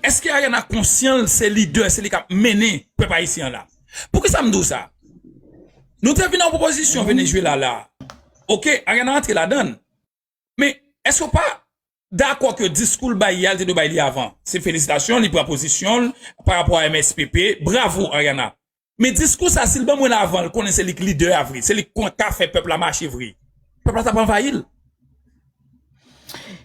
Eske Ariana konsyan l se lidè, se li kap mennen pèp ayisyen an la? Poukisa m di w sa? Nou te vin ak yon pwopozisyon Venezuela la, ok, Ariana antre ladan l, men eske w pa dakò ke diskou l bay yè a li te dwe bay li avan? Se felisitasyon li pran pozisyon l parapò a MSPP, bravo Ariana. Men diskou sa sil ban mwen l avan l konnen se lik lidè a vre se lik konn ka fè pèp la mache vre pèp la tap anvayi l.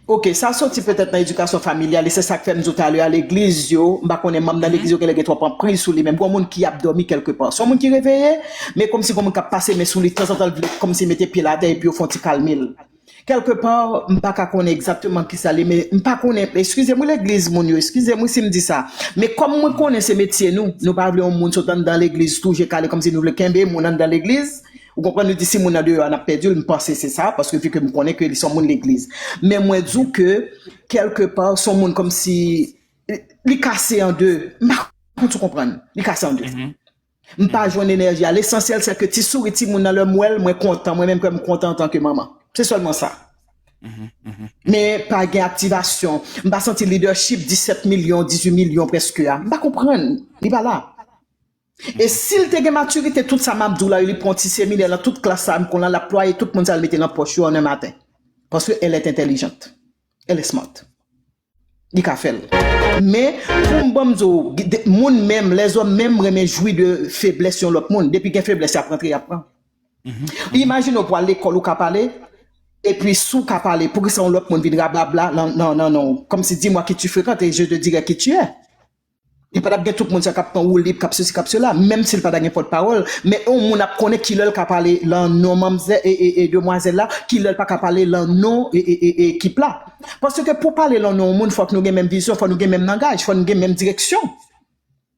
Ok sa soti petèt nan edikasyon familyal li se sak fè m di w talè a legliz yo m pa konnen manm nan legliz yo genlè gen twòp anpriz sou li men gon moun ki ap dòmi kèlke pa son moun ki reveye men kòmsi gon moun kap pase men sou li tanzantan l vle kòmsi mete pye l atè epi yo fon ti kalme l. Quelque part m pa ka konnen exactement kisa li men m pa konnen excusem wi legliz moun yo excusem wi sim di sa men kòm mwen konnen se metye nou nou pa vle yon moun sot anndan legliz tou je kale kòmsi nou vle kenbe moun anndan legliz ou konprann nou di si moun nan deyò a nap pèdi l m panse se sa paske vi ke m konnen ke li son moun legliz men mwen di w ke quelque part son moun kòmsi li kase an de m pa konn si w konprann li kase an de. M pa jwenn enèji a. Lesansyèl sè ke ti souri timoun nan lè m wè l, mwen kontan. Mwen menm kè m kontan antanke manman. Se sèlman sa. Men pa gen aktivasyon. M pa santi lidèchip 17 milyon, 18 milyon prèske a. M pa konprann. Li pa la. E si l te gen matirite tout sa m ap di w la yo, li pran ti seminè lan tout klas sa a m konn lan, l ap plwaye tout moun sa yo l mete lan pòch yo an 1 maten. Paske elle est intelligente. Elle est smart. Li ka fèl. Men, poum banm di w, moun menm, lèzòm menm renmen jwi de feblès yon lòt moun. Depi gen feblès yap rantre yap pran. Imajine w pwal lekòl ou ka pale, epi si w ka pale, poukisa yon lòt moun vin rablabla nan non w? Kòmsi di mwa ki tu frekante, je te dirè ki tu è. Li pa tap gen tout moun sa kap pran woulib, kap sesi kap sela, menm sil pa ta gen pòt pawòl, men yon moun ap konnen kilè l ka pale lan non manmzè e demwazèl la, kilè l pa ka pale lan non ekip la. Paske pou pale lan non yon moun fòk nou gen menm vizyon, fòk nou gen menm langaj, fòk nou gen menm direksyon.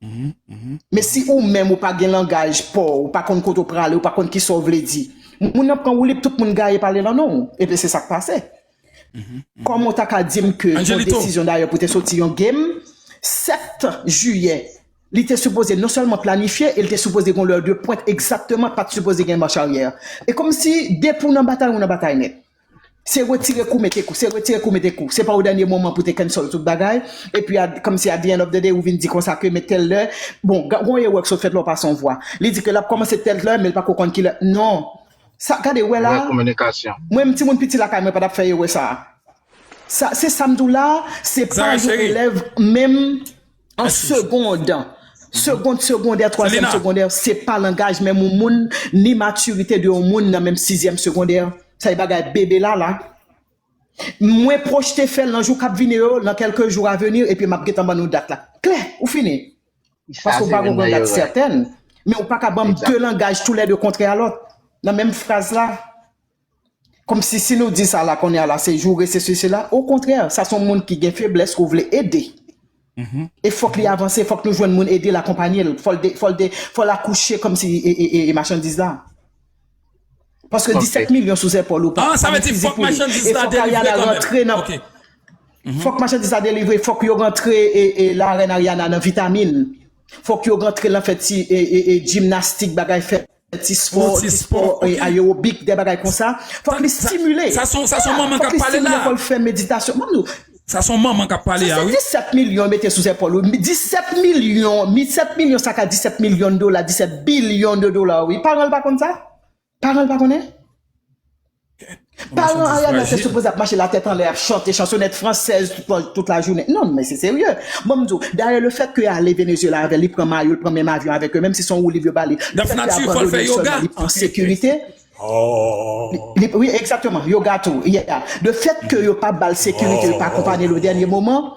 Men si ou menm ou pa gen langaj pa w, ou pa konn kote w prale, ou pa konn kisa w vle di, moun nan pran woulib, tout moun gaye pale lan non w. Ebyen se sak pase. Kòman ou ta ka di m ke yon desizyon dayè pou te soti yon game 7 jiyè li te sipoze non sèlman planifye e li te sipoze gen yon lè de pwent egzakteman pa t sipoze gen mach aryè e kòmsi depi w nan batay ou nan batay nèt se retire kou mete kou se retire kou mete kou se pa o dènye moman pou te cancel tout bagay epi a kòmsi at the end of the day ou vin di konsa ke men tèl lè bon gen yon erè ki sot fèt la ou pase yon vwa li di ke l ap kòmanse tèl lè men l pako konn kilè non. Sa gade wè la Move a, kominikasyon. mwen menm timoun piti lakay mwen pa tap fè erè sa a. Sa se sam diw la a, se pa Zara yon chérie. elèv menm an Mèsi chou. segond, segond segondè, twazyèm Selena. segondè, se pa langaj menm yon moun ni matirite de yon moun nan menm sizyèm segondè. Sa e bagay bebe lala. Mwen pwochte fèl nan jou kap vini yo, nan kèlke jou avenir epi map gentan ban nou dat la. Klè, ou fini. Paske ou pa konprann dat sètèn. Men ou pa ka banm 2 langaj tou lè 2 kontrè a lòt. Nan menm fraz la. Kòmsi si nou di sa la konnè a la se joure se sesi la. Okontrè sa son moun ki gen feblès ke w vle ede. E fòk li avanse, fòk nou jwenn moun ede l akonpanye l. Fò l akouche kòmsi machandiz la. Paske 17 milyon sou zèpòl ou pa ni fizi pou li. E fòk Ariana rantre nan... Fòk machandiz la delivre, fòk yo rantre la rèn Ariana nan vitamin. Fòk yo rantre lan fè ti jimnastik bagay fè ti spò, ti spò ayewobik, de bagay konsa. Fòk li stimile. Sa son manman kap pale la. Fòk li stimile kòl fè meditasyon. Sa son manman kap pale a wi. Se 17 milyon yo mete sou zèpòl ou, 17 milyon, 17 milyon sa ka 17 milyon dola, 17 bilyon de dola wi, paran l pa konn sa? Paran l pa konnen? Paran Ariana te sipoze ap mache la tèt anlè ap chante chansonèt fransèz tout la jounen, non men se serye, bon m di w, dayè le fèt ke yo ale Venezyela avè l, li pran mayo l, pran menm avyon avèk yo, menm si son wou liv yo ba li, le fèt ke yo abandone l sèlman li pa an sekirite. Wi, egzakteman, yo gato, yeah. De fèt ke yo pa bal sekirite, yo pa akonpanyel o dènye moman,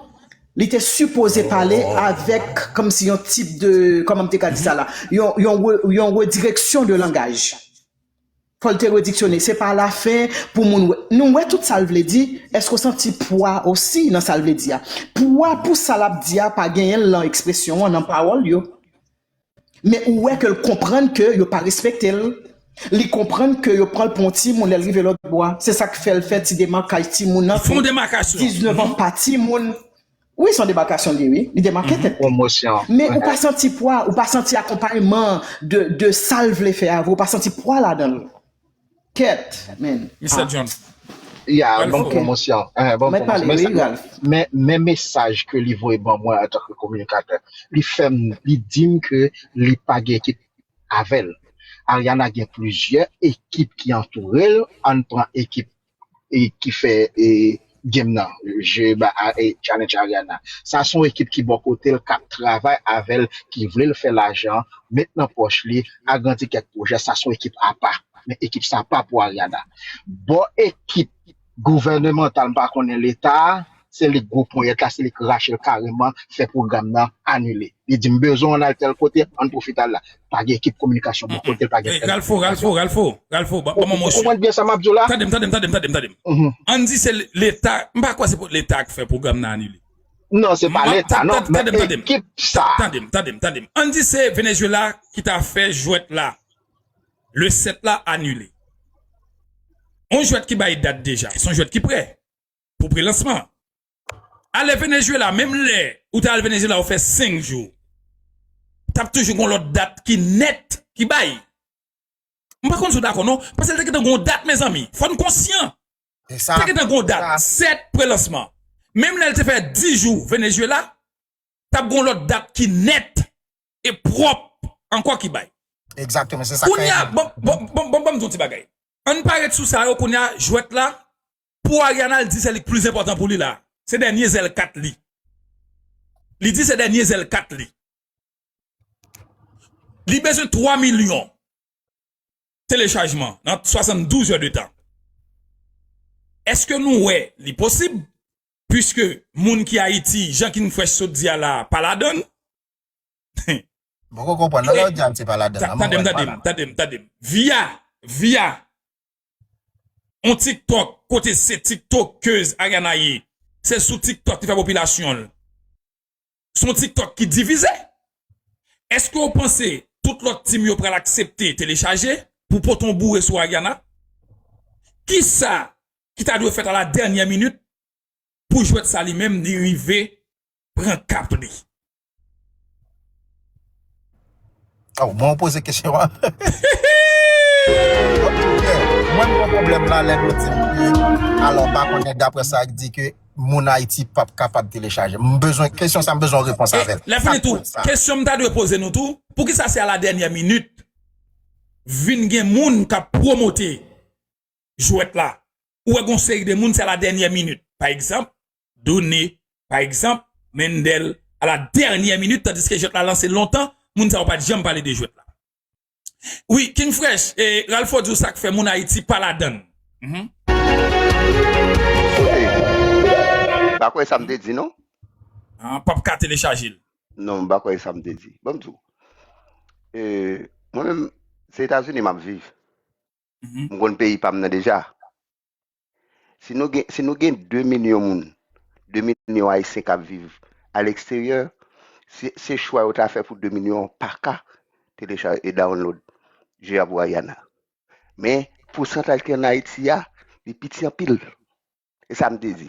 li te sipoze pale avèk kòmsi yon tip de, kòman m te ka di sa la, yon redireksyon de langaj. Fò l te rediksyone, se pa lafen pou moun wè. Nou wè tout sa l vle di, èske w santi pwa osi nan sa l vle di a? Pwa pou sa l ap di a pa genyen l nan ekspresyon an, nan pawòl yo. Men ou wè ke l konprann ke yo pa respekte l. Li konprann ke yo pran l pou yon timoun lè l rive lòtbò. Se sa k fè l fè ti demakaj timoun nan ke 19 an pa timoun. Wi, se yon demakasyon li ye wi. Li demake tèt li. Men ou pa santi pwa, ou pa santi akonpayman de sa l vle fè a vre. Ou pa santi pwa ladan l. Kèt men. Mister John. Ya, bon pwomosyon. Men mesaj ke li voye ban mwen antan ke kominikatè. Li fè m, li di m ke li pa gen ekip avè l. Ariana gen plizyè ekip ki antoure l. Ann pran ekip e ki fè e game nan je ba a e challenge Ariana sa son ekip ki bò kotel kap travay avèl ki vlel fè lajan met nan pòch li agrandi kèk pwojè sa son ekip apa men ekip sa pa pou Ariana bò ekip gouvènemantal m pa konnen leta Se li k gwo ponyèt la, se li k rache l kareman, fè pwogram nan anile. Li di m bezwen w ann al tèl kote, ann pwofite al la. Pa gen ekip kominikasyon bò kote l, pa gen èd kominikasyon. Ralpho, Ralpho, ban m yon sui. Ou konprann byen sa m ap di w la? Tande m, tande m, tande m, tande m, tande m. Ann di se Leta, m pa kwè se pou Leta k fè pwogram nan anile. Non, se pa Leta non, men ekip sa a. Tande m, tande m, tande m. Ann di se Venezuela ki ta fè jwèt la, le 7 la, anile. Yon jwèt ki bay dat deja, se yon jwèt ki prè. pou prelansman. Ale Venezuela menm lè ou te al Venezuela ou fè 5 jou tap toujou gon lòt dat ki nèt ki bay. M pa konn si w dakò non, paske te gentan gon dat mezanmi, fò n konsyan. Te gentan gon dat 7 prelansman. Menm lè l te fè 10 jou Venezuela, tap gon lòt dat ki nèt e pwòp ankò ki bay. Kounye a, bon bon m di w ti bagay. An n pa ret sou sa yo kounye a jwèt la Pou Ariana l di sèl li k plis enpòtan pou li la se dènye zèl kat li li di se dènye zèl kat li li bezwen 3 milyon telechajman nan 72 zè de tan èske nou wè li posib pwiske moun ki ayiti jan king fresh sot di a la pa ladann hum. M poko konprann nan lè w di Haiti pa ladann nan m wè l pa ladann. Tande m tande m. Via via On tiktok kote se tiktokez Ariana ye se sou tiktok li fè popilasyon l son tiktok ki divize eske ou panse tout lòt team yo pral aksepte telechaje pou pote on boure sou Ariana kisa ki ta dwe fèt a la dènyè minit pou jwèt sa li menm li rive pran kap li. Aw mwen ou poze kesyon an. Mwen mwen problem la lè nou dim ke alò pa konnen dapre sa ak di ke moun ayiti pap kapab telechaje. M bezwen kesyon sa m bezwen yon repons avèl. E lè fini tou kesyon m ta dwe poze nou tou poukisa se a la dènyè minit vin gen moun kap pwomote jwèt la ou wè gon seri de moun se a la dènyè minit pa egzanp done. Pa egzanp, Mendel a la dènyè minit tandiske jwèt la lanse lontan, moun sa yo pa t janm pale de jwèt la. Wi, King Fresh, e Ralpho di w sa k fè moun Ayiti pa ladann. Kote? M pa kwè sa m te di non. An, pap ka telechaje l. Non, m pa kwè e sa m te di. Bon m di w, e mwen menm se Etazini m ap viv. M konn peyi pa m nan deja. Si nou gen, si nou gen 2 milyon moun, 2 milyon ayisyen kap viv a leksteryè, si se chwa yo ta fè pou 2 milyon an pa ka telechaje e download Je a pou Ariana. Men pousantaj ki an Ayiti a, li piti anpil. E sa m te di.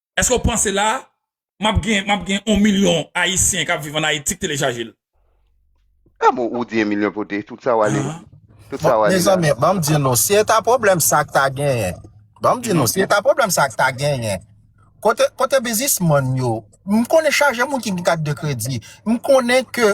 Eske w panse la map gen map gen 1 milyon ayisyen kap viv an ayiti k telechaje l. Ah bon ou di 1 milyon pote tout sa wale tout sa wale la. Mezanmi banm di nou si eta pwoblèm sa k ta genyen banm di nou si eta pwoblèm sa k ta genyen kote kote bizismann yo m konnen chaje moun ki gen kat de kredi m konnen ke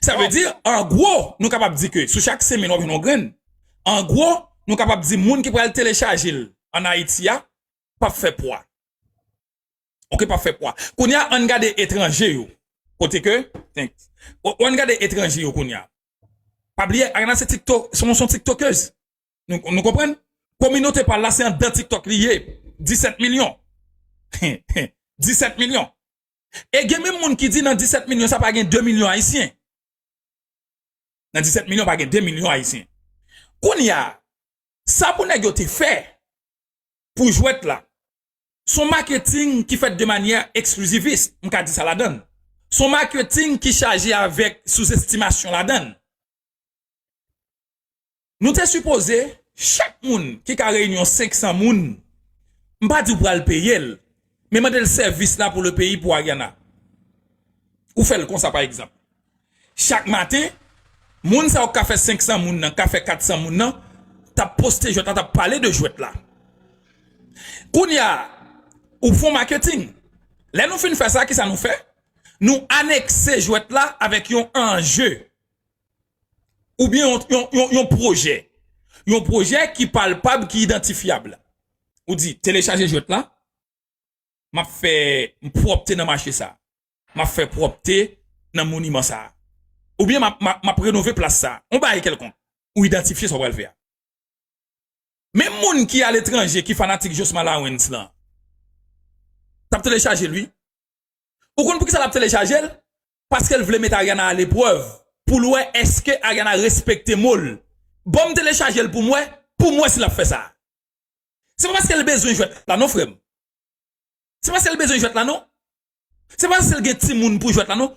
Sa vle di, an gwo, nou kapab di ke sou chak 5 mil wap jwenn yon grenn. An gwo, nou kapab di moun ki pral telechaje l an Ayiti a pap fè pwa. Ok, pap fè pwa. Kounye a, ann gade etranje yo. Kote ke, thanks. Ann gade etranje yo kounye a. Pa bliye, Ariana se tiktok, se yon tiktokez. Nou konprann? Kominote pa l la se anndan tiktok li ye. 17 milyon. 17 milyon. E gen menm moun ki di nan 17 milyon sa pa gen 2 milyon ayisyen. Nan 17 milyon pa gen 2 milyon ayisyen. Kounye a, sa pou nèg yo te fè pou jwèt la, son maketing ki fèt de manyè eksklizivis, m ka di sa ladan l. Son maketing ki chaje avèk souzestimasyon ladan l. Nou te sipoze chak moun ki ka reyinyon 500 moun, m pa di w pral peye l, men mande l sèvis la pou le peyi pou Ariana. Ou fè l konsa pa egzanp. Chak maten, moun sa yo k ka fè 500 moun nan, k ka fè 400 moun nan, t ap poste jwèt la, t ap pale de jwèt la. Kounye a, ou fon maketing. Lè nou fin fè sa, kisa nou fè? Nou anekse jwèt la avèk yon anje. Ou byen yon pwojè. Yon pwojè ki palpab, ki idantifyab. Ou di, telechaje jwèt la, m ap fè pwòpte nan mache sa. M ap fè pwòpte nan moniman sa. Ou byen m ap renove plas sa. Yon bagay kèlkonk. Ou idantifye sa w pral fè a. Menm moun ki aletranje, ki fanatik Josma Lawrence lan, t ap telechaje l wi. Ou konn poukisa l ap telechaje l? paskel vle met Ariana a leprèv poul wè eske Ariana respekte mol banm telechajel poum wè poum wè si lap fè sa se pa paskel bezwen jwèt la non frèm se pa sel bezwen jwèt la non se pa paskel gen timoun pou jwèt la non.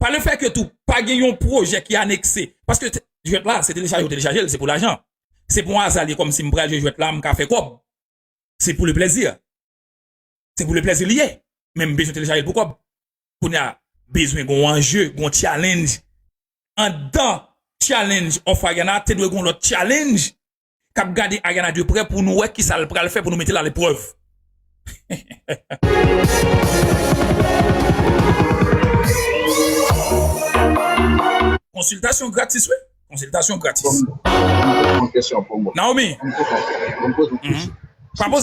Pa le fè ke tou, pa gen yon pwojè ki anekse. Paske jwèt la, se telechaje ou telechaje l, se pou lajan. Se pou yon aza l ye kòmsi m pral jwe jwèt la, m ka fè kòb. Se pou le plèzi. Se pou le plèzi li ye. Men m bezwen telechaje l pou kòb. Kounye a, bezwen gon anje, gon challenge. Anndan challenge Ofayana, te dwe gon lòt challenge. kap gade Ariana de prè pou nou wè kisa l pral fè pou nou mete l a leprèv. Konsiltasyon gratis wi. Konsiltasyon gratis. Naomi. Pa poze.